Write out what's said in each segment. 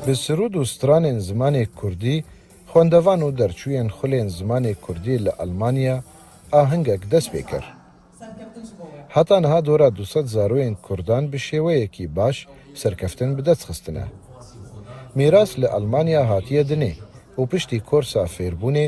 Bi sirûd û stranên zimanê kurdî, xwendevan û derçûyên xulên zimanê kurdî li Elmanya ahingek dest pê kir. Heta niha dora du sed zaroyên kurdan bi şêweyekî baş serkeftin bi dest xistine. Mîras li Elmanya hatiye dinê û piştî korsa fêrbûnê,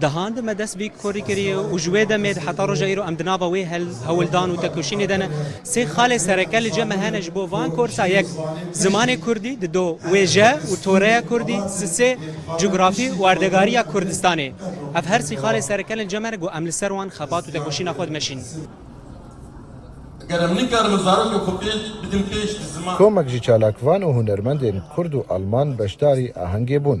Dehand me dest bîk korî kirî û ji wê demê di heta roja îro em di nava wê hewldan û tekoşînê de ne. Sê xalê sereke li cem me hene ji bo van korsa yek zimanê kurdî di do wêje û toreya kurdî si sê cografî û erdegarîya Kurdistanê. Ev her sî xalê sereke li cem me ne ku em li ser wan xebat û tekoşîna xwe dimeşîn. Tomek ji çalakvan û hunermendên kurd û alman beşdarî ahengê bûn.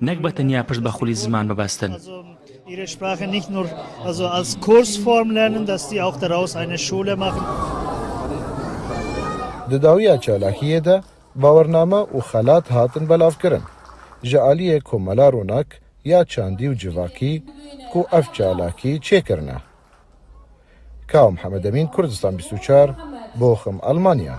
Nekba tenya pişt be xulî ziman bibestin. Di dawiya çalakiyê de bawername û xelat hatin belavkirin ji aliyê Komela Ronak ya Çandî û Civakî ku ev çalakî çêkirine. Kao Mihemedemîn Kurdistan bîst û çar, Bochum, Almanya.